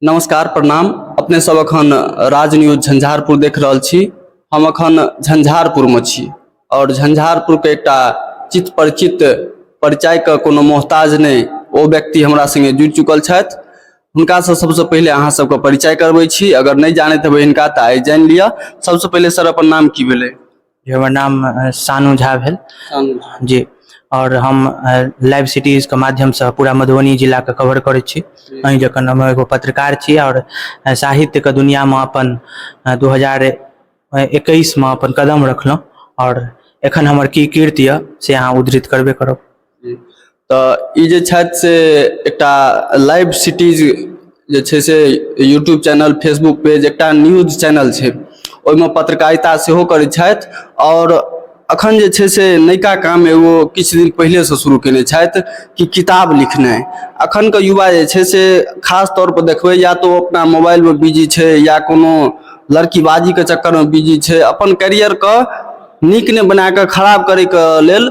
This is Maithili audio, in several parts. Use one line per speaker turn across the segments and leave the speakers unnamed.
नमस्कार प्रणाम अपने सब अखन राज न्यूज झंझारपुर देख रहल छी हम अखन झंझारपुर में छी और झंझारपुर के एक चित परिचित परिचय के कोनो मोहताज नहीं वो व्यक्ति हमारा संगे जुड़ चुकल है हुनका से सबसे पहले अहाँ सबके परिचय करबे छी अगर नहीं जानते हेबै इनका तो आई जान लिया सबसे पहले सर अपन नाम की भेलै हमर नाम
शानु झा भेल जी आओर हम लाइव सिटीजके माध्यमसँ पूरा मधुबनी जिलाके कवर करै छी अहीँ जखन हम एगो पत्रकार छी आओर साहित्यके दुनिआँमे अपन दू हजार एकैसमे अपन कदम रखलहुँ आओर एखन हमर की कीर्ति यए से अहाँ उद्धृत करबे करब तऽ
ई जे छथि से एकटा लाइव सिटीज जे छै से यूट्यूब चैनल फेसबुक पेज एकटा न्यूज चैनल छै ओहिमे पत्रकारिता सेहो करै छथि आओर एखन जे छै से नयका काम एगो किछु दिन पहिलेसँ शुरू कयने छथि कि किताब लिखनाइ एखनके युवा जे छै से खास तौरपर देखबै या तऽ ओ अपना मोबाइलमे बिजी छै या कोनो लड़कीबाजीके चक्करमे बिजी छै अपन कैरियरके नीक नहि बना कऽ खराब करयके लेल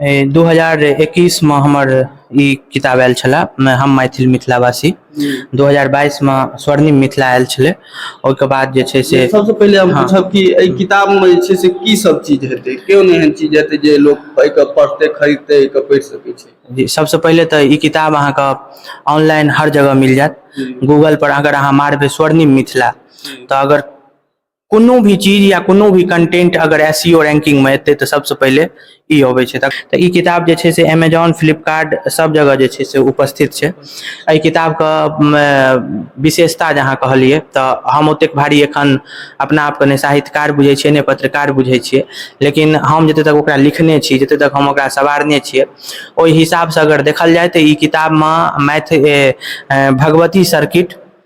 दू हजार
एकैस मे हमर ई किताब आयल छले हम मैथिल मिथिलावासी दू हजार बाईस मे स्वर्णिम मिथिला आयल छले ओहिके बाद जे छै से सबसँ पहिले हम हाँ। पूछब
कि एहि किताब मे जे छै से की सब चीज हेतै केओ नहि एहन चीज हेतै जे लोक एहिके पढ़तै खरीदतै एहिके पढ़ि सकै छै जी सबसँ पहिले तऽ
ई किताब अहाँके ऑनलाइन हर जगह मिल जायत गूगल पर अगर अहाँ मारबै स्वर्णिम मिथिला तऽ अगर कोनो भी चीज या कोनो भी कंटेंट अगर एस सी ओ रैंकिंगमे एतै तऽ सबसँ पहिले ई अबै छै तऽ ई किताब जे छै से एमेजॉन फ्लिपकार्ट सब जगह जे छै से उपस्थित छै एहि किताबके विशेषता जे अहाँ कहलियै तऽ हम ओतेक भारी एखन अपना आपके नहि साहित्यकार बुझै छियै नहि पत्रकार बुझै छियै लेकिन हम जतऽ तक ओकरा लिखने छी जतऽ तक हम ओकरा सवारने छियै ओहि हिसाबसँ अगर देखल जाइ तऽ ई किताबमे मैथ भगवती सर्किट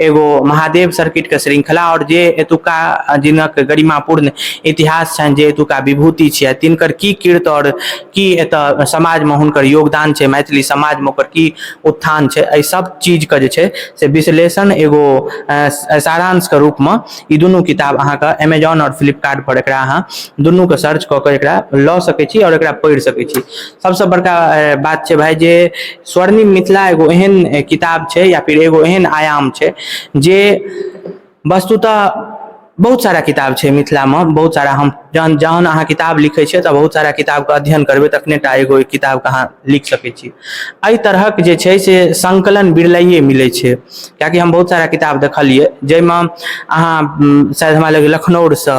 एगो महादेव सर्किट के श्रृंखला आओर जे एतुका जिनक गरिमापूर्ण इतिहास छनि जे एतुका विभूति छियै तिनकर की कीर्त आओर की एतऽ समाजमे हुनकर योगदान छै मैथिली समाजमे ओकर की उत्थान छै एहि सब चीजके जे छै से विश्लेषण एगो सारांशके रूपमे ई दुनू किताब अहाँके एमेजॉन आओर फ्लिपकार्टपर एकरा अहाँ दुनूके सर्च कऽ कऽ एकरा लऽ सकै छी आओर एकरा पढ़ि सकै छी सबसँ बड़का बात छै भाय जे स्वर्णिम मिथिला एगो एहन किताब छै या फिर एगो एहन आयाम छै जे वस्तुतः बहुत सारा किताब छै मिथिलामे बहुत सारा हम जहन जहन अहाँ किताब लिखै छियै तऽ बहुत सारा किताबके अध्ययन करबै तखने टा एगो किताबके अहाँ लिख सकै छी एहि तरहक जे छै से संकलन बिरलाइए मिलै छै किएकि हम बहुत सारा किताब देखलियै जाहिमे अहाँ शायद हमरा लगैए लखनौरसँ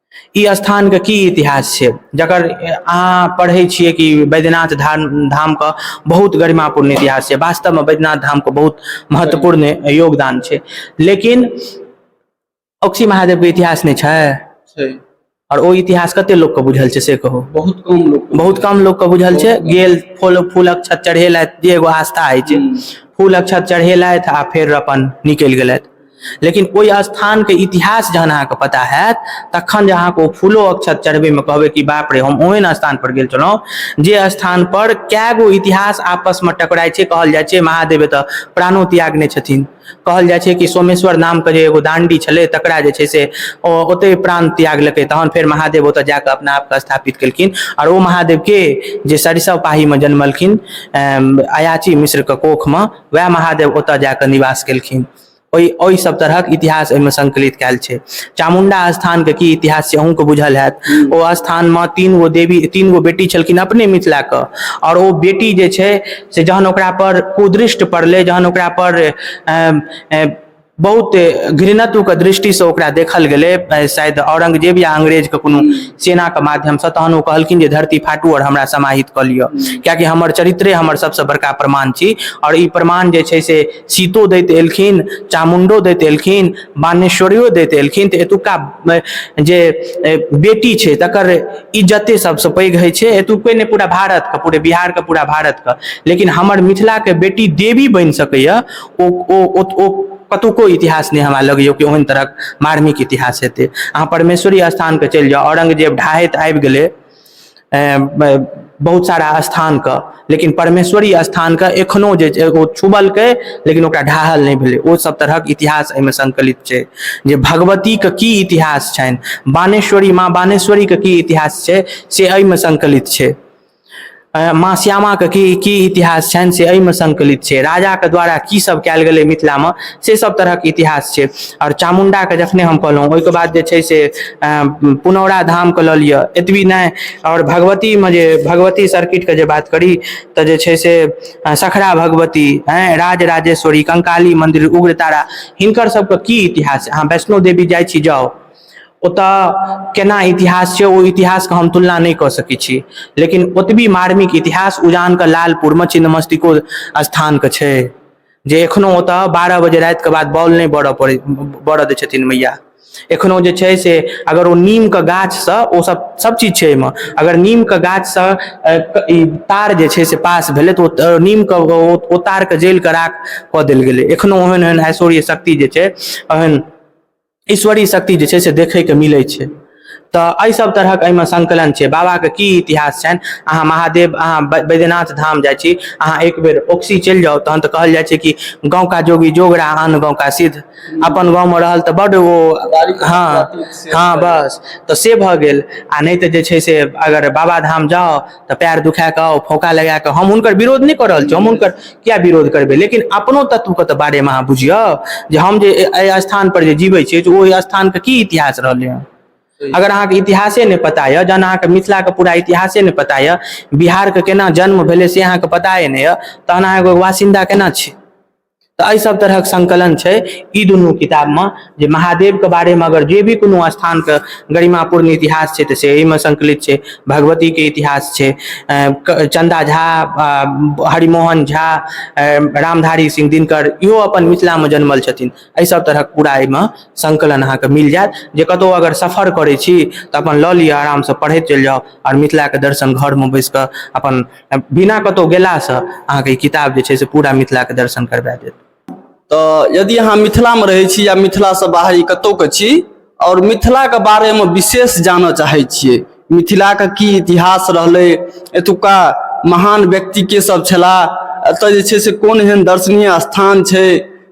ई स्थानके की इतिहास छै जकर अहाँ पढ़ै छियै कि बैद्यनाथ धाम धामके बहुत गरिमापूर्ण इतिहास छै वास्तवमे बैद्यनाथ धामके बहुत महत्वपूर्ण योगदान छै लेकिन अक्सी महादेवके इतिहास नहि छै छै आओर ओ इतिहास कते लोकके बुझल छै से कहू बहुत कम लोक बहुत कम लोकके बुझल छै गेल फूल फूलक छत चढ़ेलथि जे एगो आस्था होइ छै फूलक छत चढ़ेलथि आ फेर अपन निकलि गेलथि लेकिन ओहि स्थानके इतिहास जहन अहाँके पता हैत तखन जे अहाँके ओ फूलो अक्षत चढ़बैमे कहबै कि बाप रे हम ओहन स्थानपर गेल छलहुँ जे स्थानपर कए गो इतिहास आपसमे टकराइ छै कहल जाइ छै महादेव एतऽ प्राणो त्यागने छथिन कहल जाइ छै कि सोमेश्वर नामके जे एगो दाण्डी छलै तकरा जे छै से ओ ओतहि प्राण त्यागलकै तहन फेर महादेव ओतऽ जाकऽ अपना आपके स्थापित केलखिन आओर ओ महादेवके जे सरिसव पाहीमे जन्मलखिन अयाची मिश्रके कोखमे वएह महादेव ओतऽ जाकऽ निवास केलखिन ओहि ओहि सब तरहक इतिहास ओहिमे संकलित कयल छै चामुण्डा स्थान के की इतिहास छै अहूँ के बुझल हयत हूँ ओ स्थान मे तीन गो देवी तीन गो बेटी छलखिन अपने मिथिला के आओर ओ बेटी जे छै से जहन ओकरा पर कुदृष्ट पड़लै जहन ओकरा पर बहुत घृणत्व के दृष्टि से ओकरा देखल गेलै शायद औरंगजेब या अंग्रेज के कोनो हूँ सेना के माध्यम से तहन ओ कहलखिन जे धरती फाटू आओर हमरा समाहित कऽ लिअ हूँ कियाकि हमर चरित्रे हमर सबसँ बड़का प्रमाण छी आओर ई प्रमाण जे छै से सीतो दैत एलखिन चामुण्डो दैत एलखिन बानेश्वरियो दैत एलखिन तऽ एतुका जे बेटी छै तकर इज्जते सबसँ पैघ होइ छै एतुके नहि पूरा भारतके पूरे बिहारके पूरा भारतके लेकिन हमर मिथिलाके बेटी देवी बनि सकैए ओ ओ ओ कतुको इतिहास नहि हमरा लगैए कि ओहन तरहक मार्मिक इतिहास हेतै अहाँ परमेश्वरी स्थानके चलि जाउ औरंगजेब ढाहैत आबि गेलै बहुत सारा स्थानके लेकिन परमेश्वरी स्थानके एखनो जे छै ओ छुबलकै लेकिन ओकरा ढाहल नहि भेलै ओ सब तरहक इतिहास एहिमे संकलित छै जे भगवतीके की इतिहास छनि बानेश्वरी माँ बानेश्वरीके की इतिहास छै से एहिमे संकलित छै माँ श्यामाके की की इतिहास छनि से एहिमे संकलित छै राजाके द्वारा की सब कयल गेलै मिथिलामे से सब तरहक इतिहास छै आओर चामुण्डाके जखने हम कहलहुँ ओहिके बाद जे छै से पुनौरा धामके लऽ लिअ एतबी नहि आओर भगवतीमे जे भगवती सर्किटके जे बात करी तऽ जे छै से सखरा भगवती आँय राज राजेश्वरी कंकाली मन्दिर उग्रतारा हिनकर सबके की इतिहास अहाँ वैष्णो देवी जाइ छी जाउ ओतऽ केना इतिहास छै ओ इतिहासके हम तुलना नहि कऽ सकै छी लेकिन ओतबी मार्मिक इतिहास उजानके लालपुरमे छिन्नमस्तिको स्थानके छै जे एखनो ओतऽ बारह बजे रातिके बाद बॉल नहि बरऽ पड़ै बरऽ दै छथिन मैया एखनो जे छै से अगर ओ नीमके गाछसँ ओ सब सब चीज छै अइमे अगर नीमके गाछसँ ई तार जे छै से पास भेलै तऽ ओ नीमके ओ तारके जलि कऽ राख कऽ देल गेलै एखनो ओहन ओहन ऐश्वर्य शक्ति जे छै ओहन ईश्वरी शक्ति जे छै से देखैके मिलै छै तऽ एहि सब तरहक एहिमे संकलन छै बाबाके की इतिहास छनि अहाँ महादेव अहाँ बैद्यनाथ धाम जाइ छी अहाँ एक बेर ओक्सी चलि जाउ तहन तऽ कहल जाइ छै कि गाँव का जोगी जोगरा आन गाँव का सिद्ध अपन गाँवमे रहल तऽ बड्ड ओ हँ हँ बस तऽ से भऽ गेल आ नहि तऽ जे छै से अगर बाबाधाम जाउ तऽ पैर दुखा कऽ फौका लगा कऽ हम हुनकर विरोध नहि कऽ रहल छी हम हुनकर किया विरोध करबै लेकिन अपनो तत्वके तऽ बारेमे अहाँ बुझियौ जे हम जे एहि स्थान पर जे जीबै छियै जे ओहि स्थानके की इतिहास रहलै हँ अगर अहाँके इतिहासे नहि पता यऽ जहन अहाँके मिथिलाके पूरा इतिहासे नहि पता यऽ बिहारके केना जन्म भेलै से अहाँके पताए नहि यऽ तहन अहाँ एगो वासिन्दा केना छी तऽ एहि सब तरहक संकलन छै ई दुनू किताब मे जे महादेव के बारे मे अगर जे भी कोनो स्थान के गरिमापूर्ण इतिहास छै तऽ से एहिमे संकलित छै भगवती के इतिहास छै चन्दा झा हरिमोहन झा रामधारी सिंह दिनकर इहो अपन मिथिला मे जनमल छथिन एहि सब तरहक पूरा एहिमे संकलन अहाँके मिल जायत जे कतहु अगर सफर करै छी तऽ अपन लऽ लिअ आराम से पढ़ैत चलि जाउ आओर मिथिला के दर्शन घर मे बैस कऽ अपन बिना कतहु गेलासँ अहाँके ई किताब जे छै से पूरा मिथिलाके दर्शन करबा देत तऽ
यदि अहाँ मिथिलामे रहै छी या मिथिलासँ बाहरी कतहुके छी आओर मिथिलाके बारेमे विशेष जानऽ चाहै छियै मिथिलाके की इतिहास रहलै एतुका महान व्यक्ति के सब छलाह एतय जे छै से कोन एहन दर्शनीय स्थान छै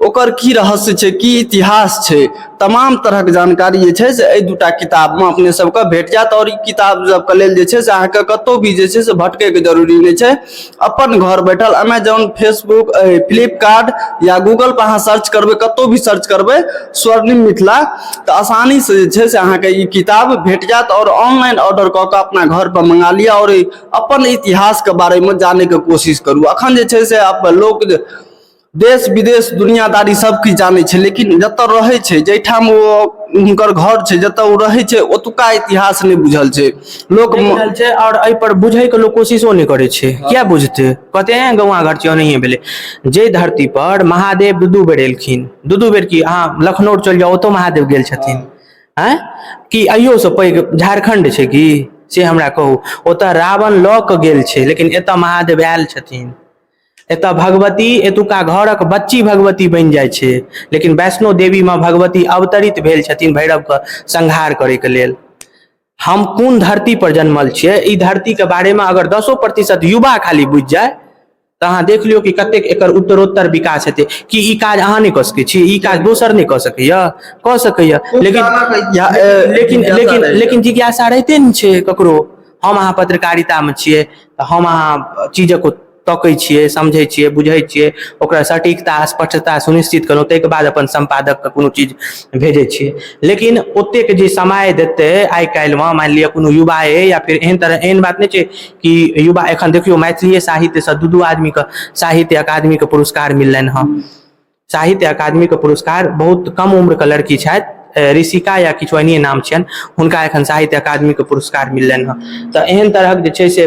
ओकर की रहस्य छै की इतिहास छै तमाम तरहक जानकारी जे छै से एहि दूटा किताबमे अपने सबके भेट जायत आओर ई किताब सबके लेल जे छै से अहाँके कतहु भी जे छै से भटकैके जरूरी नहि छै अपन घर बैठल अमेजोन फेसबुक फ्लिपकार्ट या गूगलपर अहाँ सर्च करबै कतहु भी सर्च करबै स्वर्णिम मिथिला तऽ आसानीसँ जे छै से अहाँके ई किताब भेट जायत आओर ऑनलाइन ऑर्डर कऽ कऽ अपना घरपर मंगा लिअ आओर अपन इतिहासके बारेमे जानैके कोशिश करू अखन जे छै से लोक देश विदेश दुनियादारी सब किछु जानै छै लेकिन जतऽ रहै छै जाहिठाम ओ हुनकर घर छै जतऽ ओ रहै छै ओतुका इतिहास नहि बुझल छै लोक देख रहल छै और एहि
पर बुझे के लोग कोशिशो नहीं करे छै क्या बुझते कहते हैं गौवा घर छियै ओनाहिए भेले जे धरती पर महादेव दू दू बेर एलखिन दू दू बेर की अहाँ लखनऊ चल जाओ ओतो महादेव गेल छथिन हैं कि अहियो से पैघ झारखंड छै कि से हमरा कहू ओतऽ रावण लऽ के गेल छै लेकिन एतऽ महादेव आयल छथिन एतय भगवती एतुका घरक बच्ची भगवती बनि जाइ छै लेकिन वैष्णो देवी मे भगवती अवतरित भेल छथिन भैरव के संहार करे के लेल हम कोन धरती पर जन्मल छियै ई धरती के बारे मे अगर दसो प्रतिशत युवा खाली बुझि जाय तऽ अहाँ देख लियौ कि कतेक एकर उत्तरोत्तर विकास हेतै कि ई काज अहाँ नहि कऽ सकै छी ई काज दोसर नहि कऽ सकैया कऽ सकैया लेकिन लेकिन लेकिन लेकिन जिज्ञासा रहिते ने छै ककरो हम अहाँ पत्रकारितामे छियै तऽ हम अहाँ चीजक तकै छियै समझै छियै बुझै छियै ओकरा सटीकता स्पष्टता सुनिश्चित कयलहुँ ताहिके बाद अपन सम्पादकके कोनो चीज भेजै छियै लेकिन ओतेक जे समय देतै आइ काल्हिमे मानि लिअ कोनो युवा अइ या फेर एहन तरह एहन बात नहि छै कि युवा एखन देखियौ मैथिलिए साहित्यसँ दू दू आदमीके साहित्य अकादमीके पुरस्कार मिललनि हँ साहित्य अकादमी के पुरस्कार बहुत कम उम्र के लड़की छथि ऋषिका या किछु एहने नाम छियनि हुनका एखन साहित्य अकादमी के पुरस्कार मिललनि हँ तऽ एहन तरहक जे छै से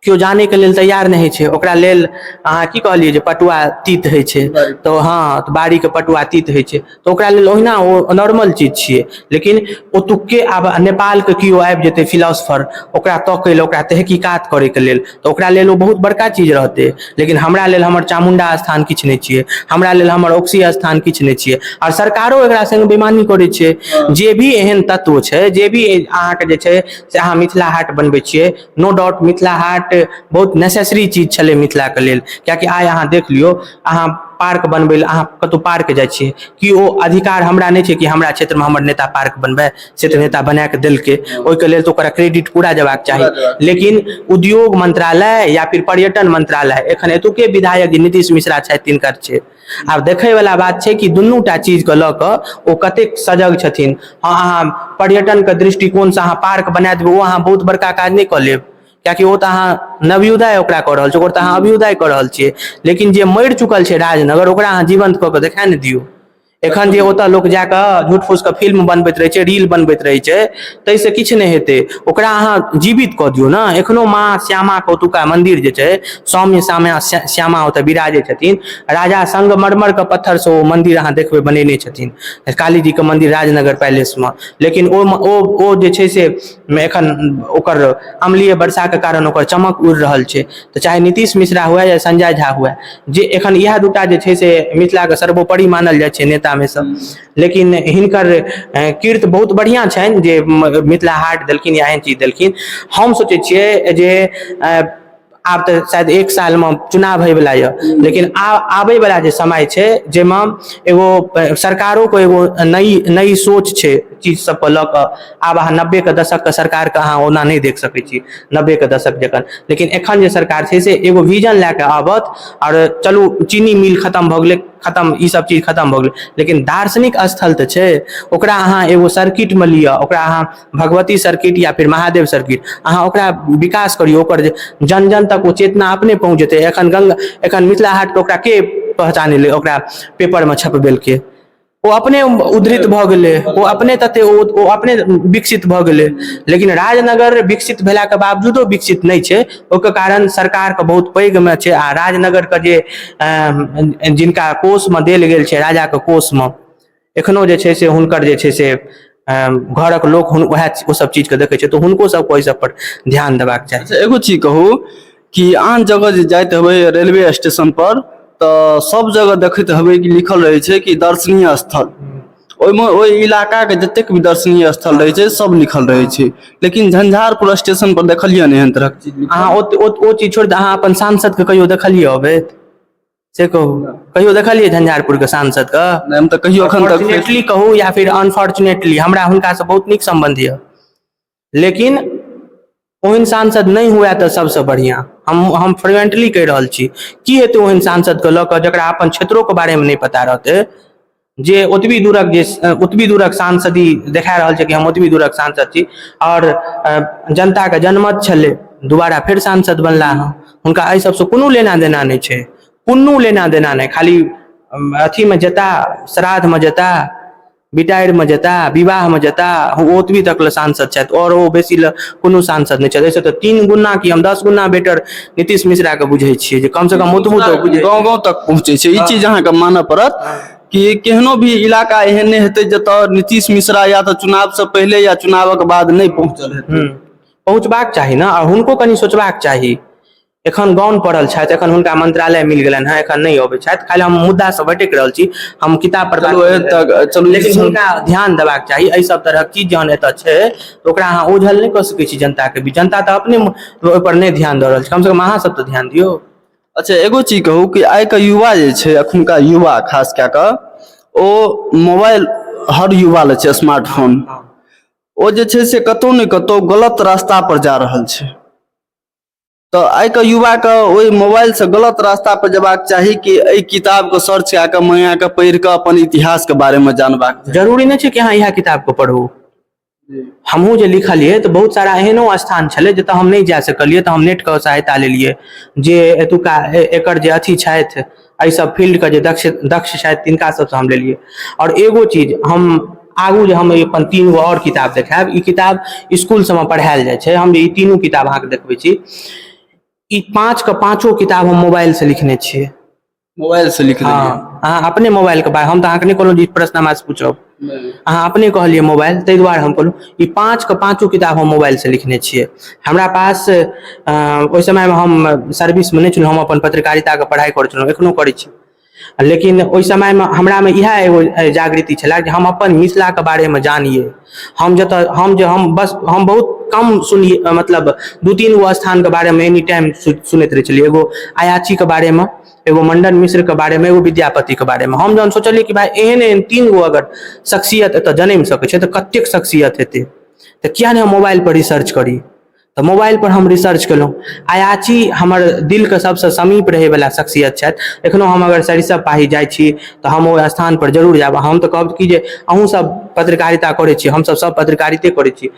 केओ जाने के लेल तैयार नहि छै ओकरा लेल अहाँ की कहलियै जे पटुआ तीत होइ छै तऽ हँ तऽ बाड़ी के पटुआ तीत होइ छै तऽ ओकरा लेल ओहिना ओ नॉर्मल चीज छियै लेकिन ओतुक्के आब नेपाल के केओ आबि जेतै फिलोसफर ओकरा तकै लए ओकरा तहकीकात करैके लेल तऽ ओकरा लेल ओ बहुत बड़का चीज रहतै लेकिन हमरा लेल हमर चामुण्डा स्थान किछु नहि छियै हमरा लेल हमर अकुशी स्थान किछु नहि छियै आओर सरकारो एकरा सङ्ग बेमानी करै छै जे भी एहन तत्व छै जे भी अहाँके जे छै से अहाँ मिथिला हाट बनबै छियै नो डाउट मिथिला हाट बहुत नेसेसरी चीज छलै मिथिलाके लेल किएकि आइ अहाँ देख लियौ अहाँ पार्क बनबै लए अहाँ कतहु पार्क जाइ छियै कि ओ अधिकार हमरा नहि छै कि हमरा क्षेत्रमे हमर नेता पार्क बनबै से तऽ नेता बना कऽ देलकै ओहिके लेल तऽ ओकरा क्रेडिट पूरा जेबाक चाही लेकिन उद्योग मंत्रालय या फिर पर्यटन मंत्रालय एखन एतुके विधायक जे नीतीश मिश्रा छथि तिनकर छै आब देखैवला बात छै कि दुनू टा चीजके लऽ कऽ ओ कतेक सजग छथिन हँ अहाँ पर्यटनके दृष्टिकोणसँ अहाँ पार्क बना देबै ओ अहाँ बहुत बड़का काज नहि कऽ लेब किएकि ओ तऽ अहाँ नवयुदय ओकरा कऽ रहल छी ओकर तऽ अहाँ अभ्युदय कऽ रहल छियै लेकिन जे मरि चुकल छै राजनगर ओकरा अहाँ जीवंत कऽ कऽ देखा ने दियौ एखन जे ओतऽ लोक जा कऽ झूठ फूस के फिल्म बनबैत रहै छै रील बनबैत रहै छै ताहिसँ किछु नहि हेतै ओकरा अहाँ जीवित कऽ दियौ ने एखनो माँ श्यामा के ओतुका मन्दिर जे छै सौम्य श्यामा श्यामा ओतऽ विराजै छथिन राजा संगमरमर के पत्थर से ओ मन्दिर अहाँ देखबै बनेने छथिन काली जी के मन्दिर राजनगर पैलेस मे लेकिन ओहिमे ओ ओ जे छै से मे एखन ओकर अमलिय वर्षा के कारण ओकर चमक उड़ि रहल छै तऽ चाहे नीतीश मिश्रा हुए या संजय झा हुए जे एखन इएह दूटा जे छै से मिथिला के सर्वोपरि मानल जाइ छै नेता मे सँ लेकिन हिनकर कीर्त बहुत बढ़िआँ छनि जे मिथिला हाट देलखिन या एहन चीज देलखिन हम सोचै छियै जे आब तऽ शायद एक सालमे चुनाव होइवला यऽ लेकिन आब आबैवला जे समय छै जाहिमे एगो सरकारोके एगो नई नई सोच छै चीज सबके लऽ कऽ आब अहाँ नब्बेके दशकके सरकारके अहाँ ओना नहि देख सकै छी नब्बेके दशक जकाँ लेकिन एखन जे सरकार छै से एगो विजन लए कऽ आबत आओर चलू चीनी मिल खतम भऽ गेलै खतम ई सब चीज खतम भऽ गेलै लेकिन दार्शनिक स्थल तऽ छै ओकरा अहाँ एगो सर्किटमे लिअ ओकरा अहाँ भगवती सर्किट या फिर महादेव सर्किट अहाँ ओकरा विकास करियौ ओकर जे जन जन तक ओ चेतना अपने पहुँच जेतै एखन गङ्गा एखन मिथिला हाटके ओकरा के पहचानेलै ओकरा पेपरमे छपबेलकै ओ अपने उद्धृत भऽ गेलै ओ अपने तते ओ अपने विकसित भऽ गेलै लेकिन राजनगर विकसित भेलाके बावजूदो विकसित नहि छै ओकर कारण सरकारके बहुत पैघमे छै आ राजनगरके जे जिनका कोषमे देल गेल छै राजाके कोषमे एखनो जे छै से हुनकर जे छै से घरक लोक उएह ओ सब चीज के देखै छै तऽ हुनको सबके ओहि सब पर ध्यान देबाक चाही अच्छा, एगो चीज कहू
कि आन जगह जे जाइत हेबै रेलवे स्टेशन पर तऽ सब जगह देखैत हेबै कि लिखल रहै छै कि दर्शनीय स्थल ओहिमे ओहि इलाकाके जतेक भी दर्शनीय स्थल रहै छै सब लिखल रहै छै लेकिन झंझारपुर स्टेशन पर देखलियै ने एहन तरहक चीज अहाँ ओ चीज छोड़ि
अहाँ अपन सांसदके कहियो देखलियै अबैत से कहू कहियो देखलियै झंझारपुर के सांसद के नहि, हम तऽ कहियो एखन तक
फॉर्चुनेटली कहू या फिर
अनफॉर्चुनेटली हमरा हुनका से बहुत नीक संबंध यऽ लेकिन ओहन सांसद नहि हुए तऽ सबसँ बढ़िआँ हम हम फ्रिवेंटली कहि रहल छी की हेतै ओहन सांसद के लऽ कऽ जकरा अपन क्षेत्रोके बारेमे नहि पता रहतै जे ओतबी दूरक जे ओतबी दूरक सांसदी देखा रहल छै कि हम ओतबी दूरक सांसद छी आओर जनताके जनमत छलै दुबारा फेर सांसद बनला हँ हुनका एहि सबसँ कोनो लेना देना नहि छै कोनो लेना देना नहि खाली अथीमे जेता श्राद्धमे जेता बिटारिमे जेता विवाहमे जेता ओ ओतबी तक लए सांसद छथि आओर ओ बेसी लए कोनो सांसद नहि छथि एहिसँ तऽ तीन गुना कि हम दस गुना बेटर नीतीश मिश्रा के बुझे छियै जे कम से कम ओतबो तऽ बुझे गाँव गाँव तक पहुँचै छै
ई चीज अहाँके मानऽ पड़त कि केहनो भी इलाका एहन नहि हेतै जतऽ नीतीश मिश्रा या तऽ चुनाव से पहिले या चुनावक बाद नहि
पहुँचल
हेतै हम्म।
पहुँचबाक चाही
ने आ
हुनको कनि
सोचबाक
चाही एखन गाउन पढ़ल छथि एखन हुनका मंत्रालय मिल गेलनि हँ एखन नहि अबै छथि खाली हम मुद्दा से भटकि रहल छी हम किताब पर बात चलू, कऽ एतऽ- रहल छी। चलू, ई
लेकिन सुन- हुनका ध्यान
देबाक चाही एहि सब तरहक चीज जहन एतऽ छै तऽ ओकरा अहाँ ओझल नहि कऽ सकै छी जनता के बीच जनता तऽ अपने ओहिपर नहि ध्यान दऽ रहल छै कम से कम अहाँ सब तऽ ध्यान दियौ अच्छा एगो
चीज कहू कि आइ के युवा जे छै अखुनका युवा खास कए कऽ ओ मोबाइल हर युवा लए छै स्मार्टफोन ओ जे छै से कतौ ने कतौ गलत रास्ता पर जा रहल छै तऽ आइके युवाके ओहि मोबाइलसँ गलत रास्ता पर जेबाक चाही कि एहि किताबके सर्च कए कऽ मंगा कऽ पढ़ि कऽ अपन इतिहासके बारेमे जानबाक जरूरी नहि छै कि अहाँ इएह
किताबके पढ़ू हमहूँ जे लिखलियै तऽ बहुत सारा एहनो स्थान छलै जतय हम नहि जा सकलियै तऽ हम नेटके सहायता लेलियै जे एतुका एकर जे अथी छथि एहि सब फील्ड के जे दक्ष दक्ष छथि तिनका सबसँ हम लेलियै आओर एगो चीज हम आगू जे हम अपन तीन गो आओर किताब देखायब ई किताब स्कूल सबमे पढ़ायल जाइ छै हम जे ई तीनू किताब अहाँके देखबै छी ई पाँच के पाँचो किताब हम मोबाइल से लिखने छियै मोबाइल से
लिख देलियै हँ अहाँ अपने मोबाइल
के बारे हम तऽ अहाँके नहि कहलहुँ जे ई प्रश्न हमरा से पूछब अहाँ अपने कहलियै मोबाइल ताहि दुआरे हम कहलहुँ ई पाँच के पाँचो किताब हम मोबाइल से लिखने छियै हमरा पास ओहि समय मे हम सर्विस मे नहि छलहुँ हम अपन पत्रकारिता के पढ़ाई करै छलहुँ एखनो करै छी लेकिन ओहि समय मे हमरा मे इएह एगो जागृति छलए जे हम अपन मिथिला के बारे मे जानियै हम जतऽ हम जे हम बस हम बहुत कम सुनियै मतलब दू तीन गो स्थान के बारे मे एनी टाइम सुनैत रहै छलियै एगो अयाची के बारे मे एगो मंडन मिश्र के बारे में एगो विद्यापति के बारे में हम जहन सोचलियै कि भाय एहन एहन तीन गो अगर शख्सियत एतऽ जनमि सकै छै तऽ कतेक शख्सियत हेतै तऽ किया नहि हम मोबाइल पर रिसर्च करी तऽ मोबाइल पर हम रिसर्च केलहुँ अयाची हमर दिल के सबसँ समीप रहै बला शख्सियत छथि एखनो हम अगर सरिसब पाही जाइ छी तऽ हम ओहि स्थान पर जरूर जायब हम तऽ कहब कि जे अहूँ सब पत्रकारिता करै छी हमसब सब पत्रकारिते करै छी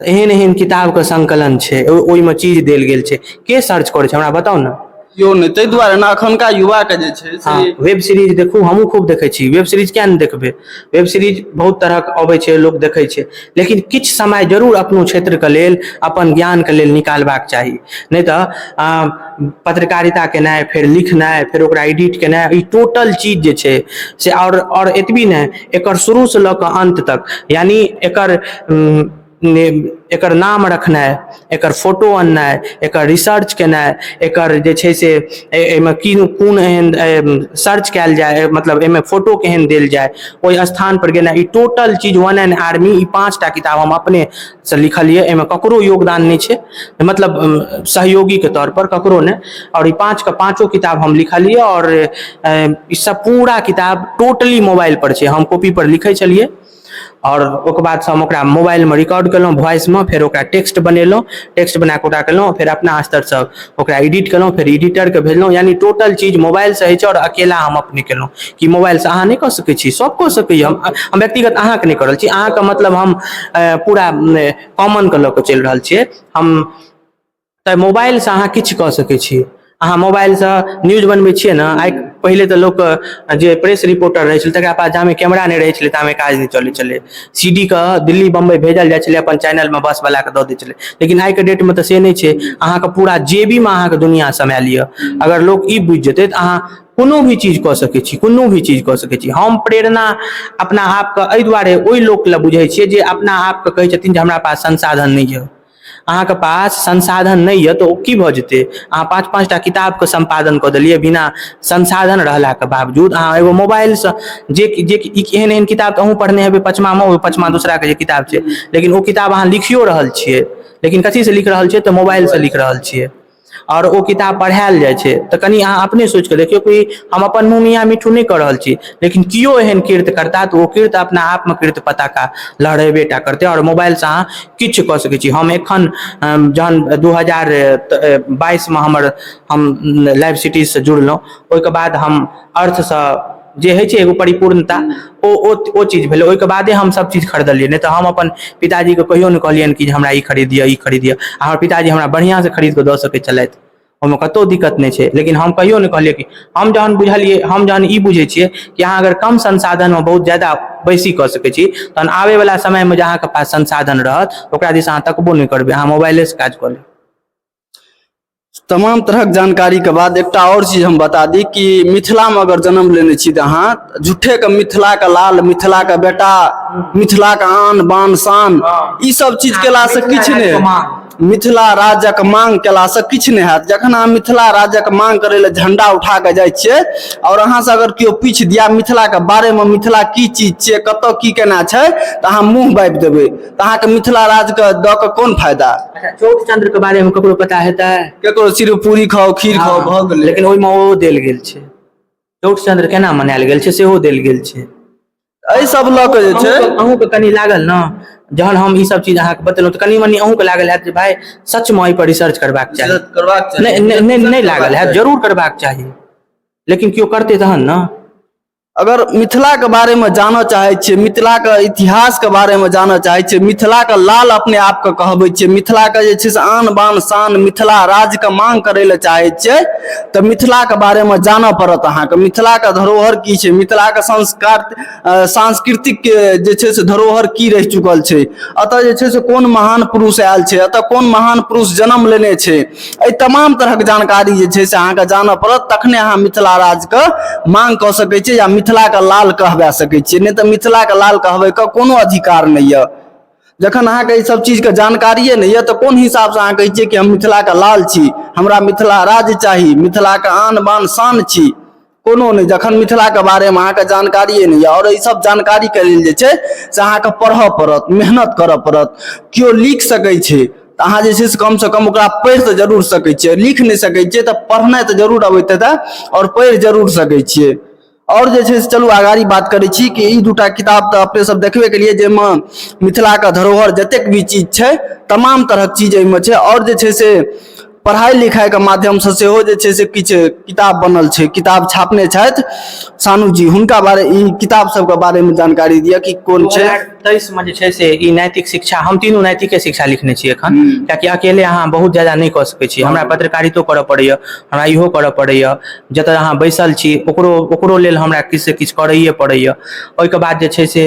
एहन एहन किताब के संकलन छै ओहि मे चीज देल गेल छै के सर्च करै छै हमरा बताउ ने केओ नहि ताहि दुआरे
ने एखुनका युवा के जे छै से वेब सीरीज देखू
हमहूँ खूब देखै छी वेब सीरीज किया नहि देखबै वेब सीरीज बहुत तरहक अबै छै लोक देखै छै लेकिन किछु समय जरूर अपनो क्षेत्रके लेल अपन ज्ञानके लेल निकालबाक चाही नहि तऽ पत्रकारिता केनाइ फेर लिखनाइ फेर ओकरा एडिट केनाइ ई टोटल चीज जे छै से आओर आओर एतबी नहि एकर शुरूसँ लऽ कऽ अन्त तक यानि एकर एकर नाम रखनाइ एकर फोटो अननाइ एकर रिसर्च केनाइ एकर जे छै से एहिमे की कोन एहन सर्च कयल जाय मतलब एहिमे फोटो केहन देल जाय ओहि स्थानपर गेनाइ ई टोटल चीज वन एन आर्मी ई पाँच टा किताब हम अपने से लिखल यऽ एहिमे ककरो योगदान नहि छै मतलब सहयोगीके तौर पर ककरो नहि आओर ई पाँचके पाँचो किताब हम लिखलियै आओर ई सब पूरा किताब टोटली मोबाइल पर छै हम कॉपी पर लिखै छलियै आओर ओकर बाद से हम ओकरा मोबाइलमे रिकॉर्ड केलहुँ वॉइसमे फेर ओकरा टेक्स्ट बनेलहुँ टेक्स्ट बनाकऽ ओकरा केलहुँ फेर अपना स्तरसँ ओकरा एडिट केलहुँ फेर एडिटरके भेजलहुँ यानि टोटल चीज मोबाइलसँ होइ छै आओर अकेला हम अपने केलहुँ कि मोबाइलसँ अहाँ नहि कऽ सकै छी सभ कऽ सकैए हम हम व्यक्तिगत अहाँके नहि कऽ रहल छी अहाँके मतलब हम पूरा कॉमनके लऽ कऽ चलि रहल छियै हम तऽ मोबाइलसँ अहाँ किछु कऽ सकै छी अहाँ मोबाइलसँ न्यूज बनबै छियै ने आइ पहिले तऽ लोक जे प्रेस रिपोर्टर रहै छलै तकरा पास जामे कैमरा नहि रहै छलै तामे काज नहि चलै छलै सी डी के दिल्ली बम्बई भेजल जाइ छलै अपन चैनल मे बस बला के दऽ दै छलै लेकिन आइ के डेट मे तऽ से नहि छै अहाँके पूरा जेबी मे अहाँके दुनिया समय लिअ अगर लोक ई बुझि जेतै तऽ अहाँ कोनो भी चीज कऽ सकै छी कोनो भी चीज कऽ सकै छी हम प्रेरणा अपना आपके एहि दुआरे ओहि लोक लए बुझै छियै जे अपना आपके कहै छथिन जे हमरा पास संसाधन नहि यऽ अहाँके पास संसाधन नहि यऽ तऽ ओ की भऽ जेतै अहाँ पाँच पाँच टा किताबके सम्पादन कऽ देलियै बिना संसाधन रहलाके बावजूद अहाँ एगो मोबाइलसँ जे कि जे कि एहन एहन किताब तऽ अहूँ पढ़ने हेबै पचमामे ओ पचमा दोसराके जे किताब छै लेकिन ओ किताब अहाँ लिखियो रहल छियै लेकिन कथीसँ लिख रहल छियै तऽ मोबाइलसँ लिख रहल छियै आओर ओ किताब पढ़ायल जाइ छै तऽ कनि अहाँ अपने सोचि कऽ देखियौ कि हम अपन मुँह मियां मिट्ठू नहि कऽ रहल छी लेकिन कियो एहन कृत्य करता तऽ ओ कृत्य अपना आपमे कृत्य पताका लहरेबे टा करतै आओर मोबाइलसँ अहाँ किछु कऽ सकै छी हम एखन जहन दू हजार बाइसमे हमर हम लाइव सिटीजसँ जुड़लहुँ ओहिके बाद हम अर्थसँ जे होइ छै एगो परिपूर्णता ओ ओ ओ चीज भेलै ओहिके बादे हम सब चीज खरीदलियै नहि तऽ हम अपन पिताजीके कहियो नहि कहलियनि कि जे हमरा ई खरीद दिअ ई खरीद दिअ आ हमर पिताजी हमरा बढ़िऑं सऽ खरीद कऽ दऽ सकै छलथि ओहिमे कतौ दिक्कत नहि छै लेकिन हम कहियो नहि कहलियै कि हम जहन बुझलियै हम जहन ई बुझै छियै कि अहाँ अगर कम संसाधनमे बहुत जादा बेसी कऽ सकै छी तहन आबै बला समयमे जे अहाँके पास संसाधन रहत ओकरा दिस अहाँ तकबो नहि करबै अहाँ मोबाइले सऽ काज कऽ लेबै
तमाम तरहक जानकारीके बाद एकटा आओर चीज हम बता दी कि मिथिलामे अगर जन्म लेने छी तऽ अहाँ झूठेके मिथिलाके लाल मिथिलाके बेटा मिथिलाके आन बान शान ई सब चीज केलासँ किछु नहि मिथिला राज्यक मांग केलासँ किछु नहि हैत जखन अहाँ मिथिला राज्यक मांग करै लए झंडा उठा कऽ जाइ छियै आओर अहाँसँ अगर केओ पूछि दिया मिथिलाके बारेमे मिथिला की चीज छियै कतय की केना छै तऽ अहाँ मुँह बाबि देबै तऽ अहाँके मिथिला राज के दऽ कऽ कोन फायदा अच्छा चौथ चंद्र
के बारे में ककरो पता हेतै केकरो सिर्फ पूरी
खाओ खीर खाओ भऽ गेलै लेकिन ओहिमे ओहो देल गेल
छै चौठ चंद्र केना मनायल गेल छै सेहो देल गेल छै एहि सब
लऽ कऽ जे छै अहूँके- अहूँके कनि लागल ने
जहन हम ई सब चीज अहाँके बतेलहुँ तऽ कनि मनि अहूँके लागल हैत जे भाय सचमे एहिपर रिसर्च करबाक चाही रिसर्च करबाक चाही। नहि नहि- नहि नहि लागल हैत जरूर करबाक चाही लेकिन केओ करतै तहन ने अगर
मिथिलाके बारेमे जानऽ चाहै छियै मिथिलाके इतिहासके बारेमे जानऽ चाहै छियै मिथिलाके लाल अपने आपके कहबै छियै मिथिलाके जे छै से आन बान शान मिथिला राज्यके माँग करै लए चाहै छियै तऽ मिथिलाके बारेमे जानऽ पड़त अहाँके मिथिलाके धरोहर की छै मिथिलाके संस्कार सांस्कृतिक जे छै से धरोहर की रहि चुकल छै एतऽ जे छै से कोन महान पुरुष आयल छै एतऽ कोन महान पुरुष जनम लेने छै एहि तमाम तरहक जानकारी जे छै से अहाँके जानऽ पड़त तखने अहाँ मिथिला राज्यके माँग कऽ सकै छियै या मिथिलाके लाल कहबा सकै छियै नहि तऽ मिथिलाके लाल कहबैके कोनो अधिकार नहि यऽ जखन अहाँके ई सब चीजके जानकारिए नहि यऽ तऽ कोन हिसाबसँ अहाँ कहै छियै कि हम मिथिलाके लाल छी हमरा मिथिला राज्य चाही मिथिलाके आन बान शान छी कोनो नहि जखन मिथिलाके बारेमे अहाँके जानकारिए नहि यऽ आओर ईसभ जानकारीके लेल जे छै से अहाँके पढ़य पड़त मेहनत करय पड़त केओ लिख सकै छै तऽ अहाँ जे छै से कमसँ कम ओकरा पढ़ि तऽ जरूर सकै छियै लिख नहि सकै छियै तऽ पढ़नाइ तऽ जरूर अबैत हेतै आओर पढ़ि जरूर सकै छियै आओर जे छै से चलू आगाड़ी बात करै छी कि ई दूटा किताब तऽ अपने सब देखबे केलिए जाहिमे मिथिलाके धरोहर जतेक भी चीज छै तमाम तरहक चीज एहिमे छै आओर जे छै से पढ़ाइ लिखाइके माध्यमसँ सेहो जे छै से किछु किताब बनल छै किताब छापने छथि सानू जी हुनका बारे ई किताब सबके बारेमे जानकारी दिअ कि कोन छै तेइस मे जे छै से
ई नैतिक शिक्षा हम तीनू नैतिके शिक्षा लिखने छी एखन हम्म। कियाकि अकेले अहाँ बहुत ज्यादा नहि कऽ सकैत छी हमरा पत्रकारितो करऽ पड़ैए हमरा इहो करऽ पड़ैए जतऽ अहाँ बैसल छी ओकरो ओकरो लेल हमरा किछु से किछु करैए पड़ैए ओहिके बाद जे छै से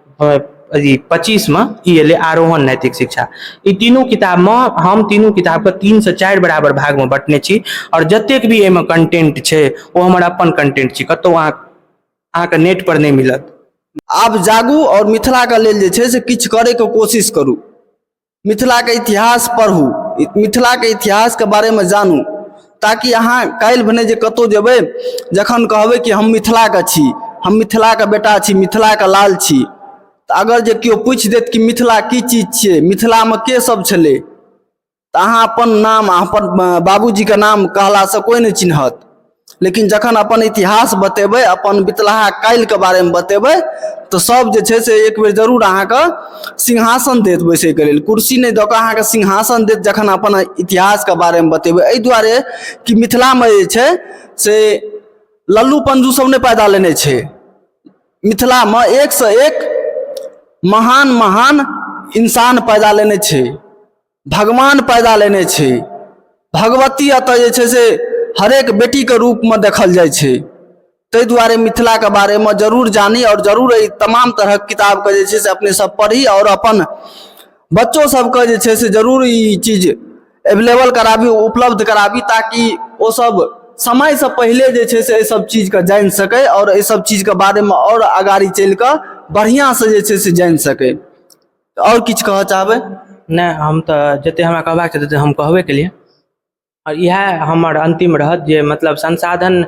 अथी पच्चीसमे ई अयलै आरोहण नैतिक शिक्षा ई तीनू किताबमे हम तीनू किताबके तीनसँ चारि बराबर भागमे बँटने छी आओर जतेक भी एहिमे कंटेंट छै ओ हमर अपन कंटेंट छी कतहु अहाँ अहाँके नेटपर नहि मिलत आब जागू
आओर मिथिलाके लेल जे छै से किछु करयके कोशिश करू मिथिलाके इतिहास पढ़ू मिथिलाके इतिहासके बारेमे जानू ताकि अहाँ काल्हि भने जे कतहु जेबै जखन कहबै कि हम मिथिलाके छी हम मिथिलाके बेटा छी मिथिलाके लाल छी तऽ अगर जे केओ पूछि देत कि मिथिला की चीज छियै मिथिलामे के सब छलै तऽ अहाँ अपन नाम अपन बाबूजीके नाम कहलासँ कोइ नहि चिन्हत लेकिन जखन अपन इतिहास बतेबै अपन बितलाहा काल्हिके बारेमे बतेबै तऽ सभ जे छै से एक बेर जरूर अहाँके सिंहासन देत बैसैके लेल कुर्सी नहि दऽ कऽ अहाँके सिंहासन देत जखन अपन इतिहासके बारेमे बतेबै एहि दुआरे कि मिथिलामे जे छै से लल्लू पंजू सभ नहि पैदा लेने छै मिथिलामे एकसँ एक महान महान इंसान पैदा लेने छै भगवान पैदा लेने छै भगवती एतऽ जे छै से हरेक बेटीके रूपमे देखल जाइ छै ताहि दुआरे मिथिलाके बारेमे जरूर जानी आओर जरूर एहि तमाम तरहक किताबके जे छै से अपने सब पढ़ी आओर अपन बच्चो सबके जे छै से जरूर ई चीज एवेलेबल कराबी उपलब्ध कराबी ताकि ओ सब समयसँ पहिले जे छै से एहि सब चीजके जानि सकै आओर एहि सब चीजके बारेमे आओर अगाड़ी चलिकऽ बढ़िआँसँ जे छै से जानि सकै तऽ आओर किछु कहऽ चाहबै नहि हम तऽ
जतेक हमरा कहबाक छलै ततेक हम कहबे केलियै आओर इएह हमर अन्तिम रहत जे मतलब संसाधन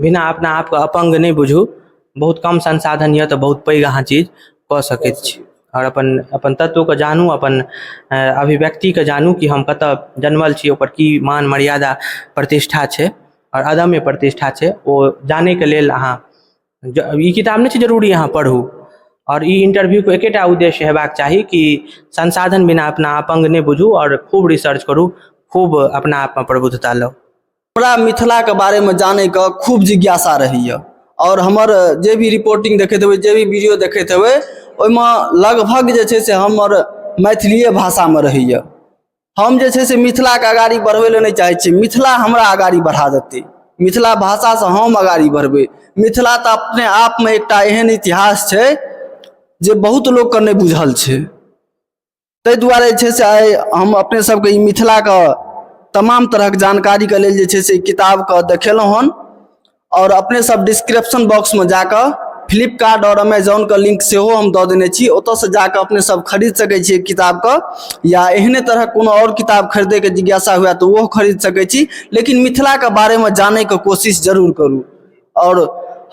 बिना अपना आपके अपङ्ग नहि बुझू बहुत कम संसाधन यए तऽ बहुत पैघ अहाँ चीज कऽ सकै छी आओर अपन अपन तत्वके जानू अपन अभिव्यक्तिकेँ जानू कि हम कतय जन्मल छी ओकर की मान मर्यादा प्रतिष्ठा छै आओर अदम्य प्रतिष्ठा छै ओ जानयके लेल अहाँ ई किताब नहि छै जरूरी अहाँ पढ़ू आओर ई इन्टरव्यूके एकेटा उद्देश्य हेबाक चाही कि संसाधन बिना अपना अपङ्ग नहि बुझू आओर खूब रिसर्च करू खूब अपना आपमे प्रबुद्धता लाउ हमरा मिथिलाके
बारेमे जानैके खूब जिज्ञासा रहैए आओर हमर जे भी रिपोर्टिंग देखैत हेबै जे भी वीडियो देखैत हेबै ओहिमे लगभग जे छै से हमर मैथिलिए भाषामे रहैए हम जे छै से मिथिलाके अगाड़ी बढ़बै लए नहि चाहै छी मिथिला हमरा अगाड़ी बढ़ा देतै मिथिला भाषासँ हम अगाड़ी बढ़बै मिथिला तऽ अपने आपमे एकटा एहन इतिहास छै जे बहुत लोकके नहि बुझल छै ताहि दुआरे जे छै से आइ हम अपने सबके ई मिथिलाके तमाम तरहक जानकारीके लेल जे छै से किताबके देखेलहुँ हन आओर अपने सब डिस्क्रिप्शन बॉक्स में जाके फ्लिपकार्ट और अमेजोन के लिंक से हो हम दऽ देने छी ओतऽ से जाके अपने सब खरीद सकै छी किताब के या एहने तरह कोनो और किताब खरीदे के जिज्ञासा हुए तऽ ओहो खरीद सकै छी लेकिन मिथिला के बारे में जाने के कोशिश जरूर करू और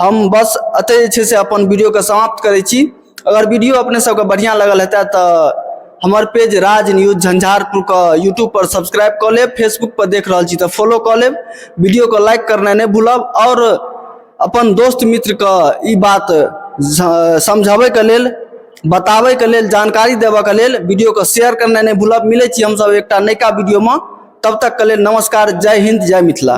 हम बस एतै जे छै से अपन वीडियो के समाप्त करै छी अगर वीडियो अपने सबके बढ़िया लगल हेतै तऽ हमर पेज राज न्यूज झंझारपुर के यूट्यूब पर सब्सक्राइब कऽ लेब फेसबुक पर देख रहल छी तऽ फॉलो कऽ लेब वीडियो के लाइक करनाइ नहि भूलब आओर अपन दोस्त मित्र के ई बात स- समझाबै के लेल बताबै के लेल जानकारी देबऽ के लेल वीडियो के शेयर करनाइ नहि भूलब मिलै छी हमसब एकटा नयका वीडियो मे तब तक के लेल नमस्कार जय हिंद जय मिथिला